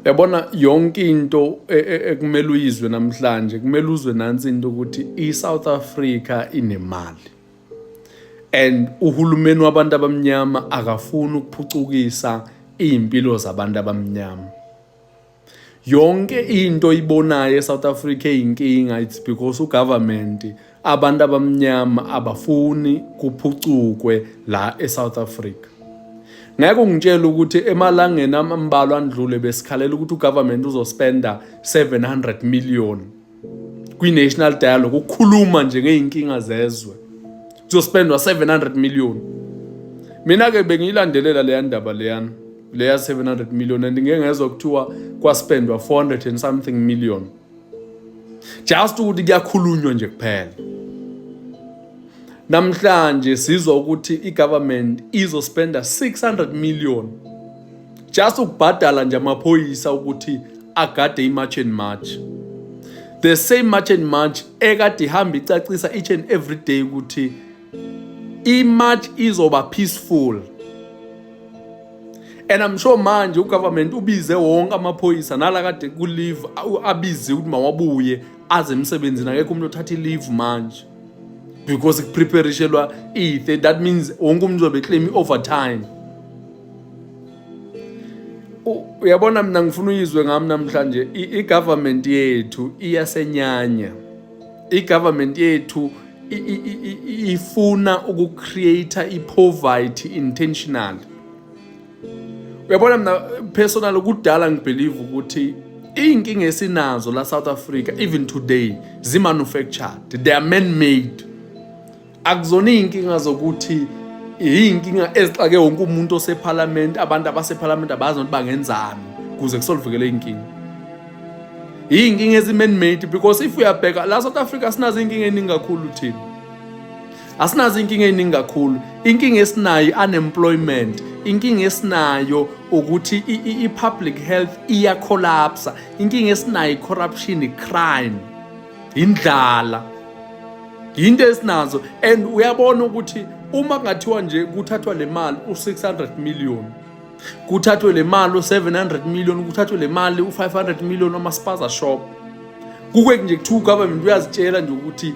yabona yonke into e, e, ekumele uyizwe namhlanje kumele uzwe nansi into ukuthi i-south africa inemali and uhulumeni wabantu abamnyama akafuni ukuphucukisa iy'mpilo zabantu abamnyama yonke into ibonayo e-south africa eyinkinga it's because ugovernment abantu abamnyama abafuni kuphucukwe la eSouth Africa ngeke ungitshele ukuthi emalangeni ambalwa andlule besikhalela ukuthi ugovernment uzospenda 700 million kwi-national dialogue ukukhuluma nje ngey'nkinga zezwe kuzospendwa 700 million mina-ke bengiyilandelela leya ndaba leyana leya 700 million and ngeke ngezwa kuthiwa kwaspendwa 400 and something million just ukuthi kuyakhulunywa nje kuphela namhlanje sizwa ukuthi i-government izospenda 600 million just ukubhadala nje amaphoyisa ukuthi agade i-march and march the same march and march ekade ihamba icacisa each and every day ukuthi i-march izoba peaceful and I'm sure manje ugovernment ubize wonke amaphoyisa nala kade ku-leave abize ukuthi mawabuye aze emsebenzini akekho umuntu othatha i-leave manje because kupreparishelwa i-30 that means wonke umuntu uzobe claim i-overtime uyabona mina ngifuna uyizwe ngami namhlanje i-government yethu iyasenyanya i-government yethu ifuna ukucreate i-poverty intentional uyabona mina personal kudala ngibelieve ukuthi iy'nkinga esinazo la south africa even today zi-manufactured they are man made akuzona iy'nkinga zokuthi iy'nkinga ezixake wonke umuntu osephalamenti abantu abasephalamenti abazi ukuthi bangenzani kuze kusolivukele iy'nkinga iy'nkinga ezi-man made because if uyabheka la south africa sinazo iy'nkinga ey'ningi kakhulu thina asinazo iy'nkinga ey'ningi kakhulu inkinga esinayo unemployment inkinga esinayo ukuthi i-public health iyacollapsa inkinga esinayo i-corruption i-crime indlala yinto esinazo and uyabona ukuthi uma kungathiwa nje kuthathwa le mali u-600 million kuthathwe le mali u-700 million kuthathwe le mali u-500 million amaspaza shop kukweki nje kuthiwa ugovernment uyazitshela nje ukuthi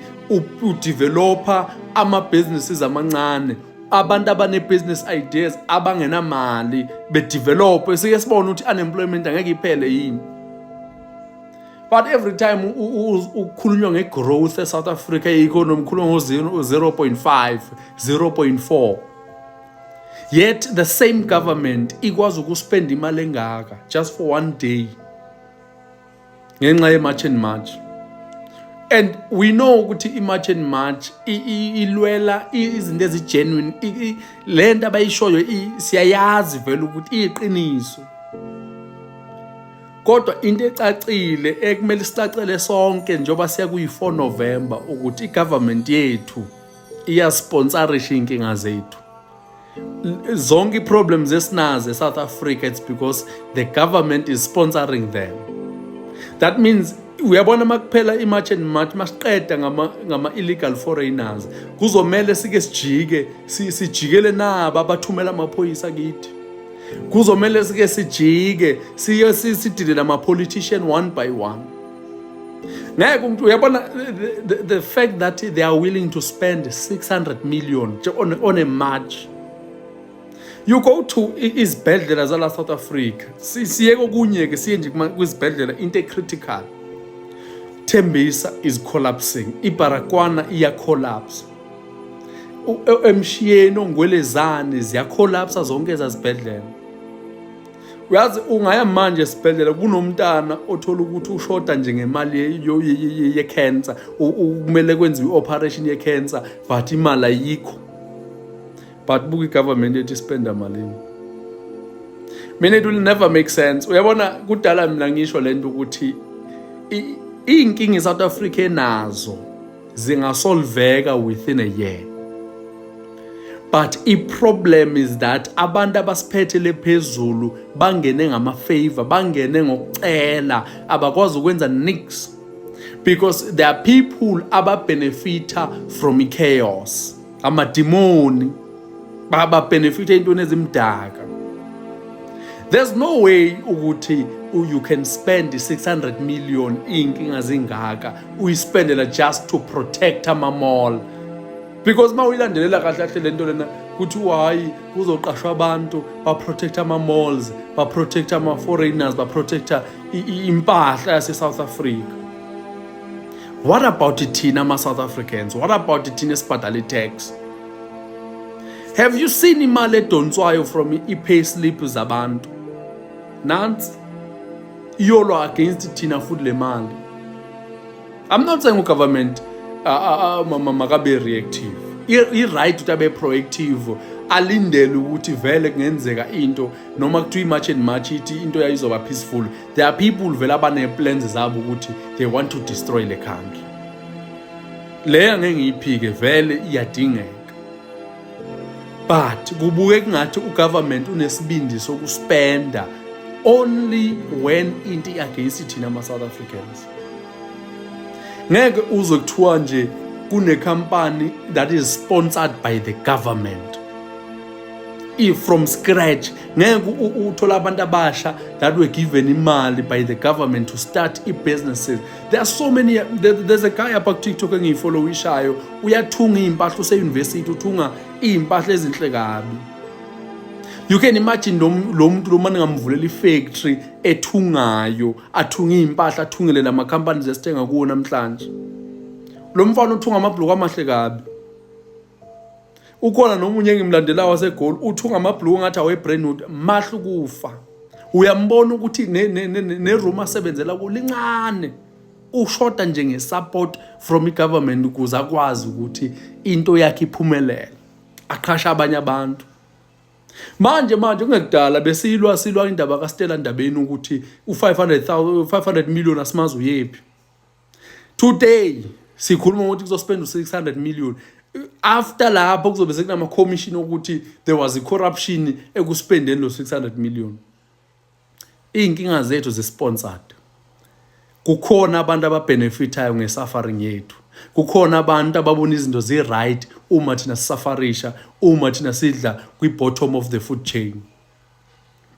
udeveloper ama-businesses amancane abantu abane-business ideas abangenamali bedevelophe sike sibone ukuthi unemployment angeke iphele yini but every time ukukhulunywa nge-growth e-south africa ye-economy khulunywa ngo-0.5 0.4 yet the same government ikwazi ukuspenda imali engaka just for one day ngenxa ye-march and march and we know ukuthi i-march and march ilwela izinto ezigenuine le nto abayishoyo siyayazi vele ukuthi iyiqiniso kodwa into ecacile ekumele sicacele sonke njengoba siya kuyi-4 november ukuthi i-government yethu iyasponsorisha iy'nkinga zethu zonke i-problems esinazo e-south africa it's because the government is sponsoring them that means uyabona uma kuphela i-march and march masiqeda ngama-illegal ngama foreigners kuzomele sike sijike sijikele nabo abathumela amaphoyisa kithi kuzomele sike sijike siye sidile nama-politician one by one ngeke umuntu uyabona the, the fact that they are willing to spend 600 million on, on a march you go to izibhedlela zala south africa siye kokunye-ke siye nje kwizibhedlela into ecritical thembisa is collapsing ibarakwana iyacollapse e, emshiyeni ongwelezane ziyacolapsa zonke ezazibhedlela uyazi ungaya manje esibhedlela kunomntana othola ukuthi ushoda nje ngemali ye-cancer kumele kwenziwe i-operation ye-cancer but imali ayikho but buka i-government ethi spenda malini mina it will never make sense uyabona kudala mina ngisho le nto ukuthi iy'nkinga i-south africa enazo zingasolveka within a year but i-problem is that abantu abasiphethele phezulu bangene ngamafavor bangene ngokucela abakwazi ukwenza nix because there are people ababhenefitha from i-chaos amadimoni bababhenefitha ey'ntweni ezimdaka there's no way ukuthi you can spend 600 million iy'nkinga zingaka uyispendela just to protect amamall because uma uyilandelela kahle kahle le nto lena kuthiwa hhayi kuzoqashwa abantu baprotecta ama-malls baprotecta ama-foreigners baprotecta impahla yase-south africa what about thina ama-south africans what about thina esibhadala i-tax have you seen imali edonswayo from i-pay slip zabantu nansi iyolwa against thina futhi le mali i'm not saying ugovernment uh, uh, uh, makabe reactive i-right ukuthi abe proactive alindele ukuthi vele kungenzeka into noma kuthiwa i-march and march ithi into yayizoba peaceful there are people vele abaneplans zabo ukuthi they want to destroy le country le angeke ngiyiphike vele iyadingeka but kubuke kungathi ugovernment unesibindi sokuspenda only when into i-against thina ama-south africans ngeke uze kuthiwa nje kunekhampani that is sponsored by the government i-from scratch ngeke uthole abantu abasha that were given imali by the government to start i-businesses there are so many there, there's a guy apha kutiktok engiyifollowishayo uyathunga iy'mpahla useyunivesithi uthunga iy'mpahla ezinhle kabi you can imagine lo muntu lo mane ngamvulela i-factory ethungayo athunga iy'mpahla athungele la ma-companies esithenga kuwo namhlanje lo mfana uthunga amabhuluku amahle kabi ukhona nomunye engimlandelayo wasegoli uthi ungamabhluku ngathi awebrandwood mahlu kufa uyambona ukuthi neroom asebenzela kulo lincane ushoda nje nge-support from i-government ukuze akwazi ukuthi into yakhe iphumelele aqhashe abanye abantu manje manje kungekudala besilwa silwa indaba kastela ndabeni ukuthi u-500 million asimazi uyephi today sikhuluma ngokuthi kuzospenda u-600 million after lapho kuzobe sekunama-commission okuthi there was i-corruption ekuspendeni lo-600 million iy'nkinga zethu zisponsored kukhona abantu ababhenefithayo nge-suffering yethu kukhona abantu ababona izinto zi-right uma thina sisafarisha uma thina sidla kwi-bottom of the food chain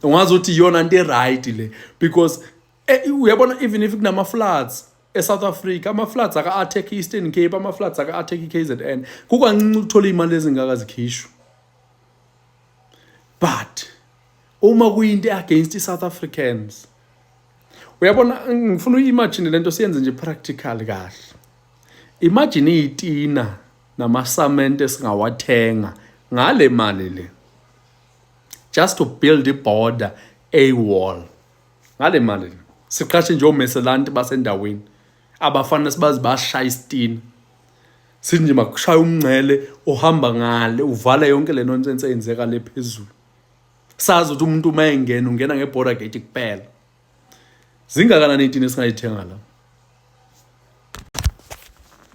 ungazi ukuthi iyona nto e-right le because Eh, uyabona even if kunama-floods e-south africa ama-floods aka-attack i-eastern cape ama-floods aka-attack i-k z n kukancinci ukuthola iy'mali ezingaka zikhishwa but uma kuyinto e-against i-south africans uyabona ngifuna uyi-imagine le nto siyenze nje practical kahle imagine iyitina namasamente esingawathenga ngale mali le just to build i-border a wall ngale mali siqashe nje omeselanti basendaweni abafana sibazi bashaya isitina sithi nje makushaya umngcele ohamba ngale uvala yonke le nonsense eyenzeka le phezulu sazi ukuthi umuntu uma engena ungena nge-border gate kuphela zingakanani itini esingayithenga la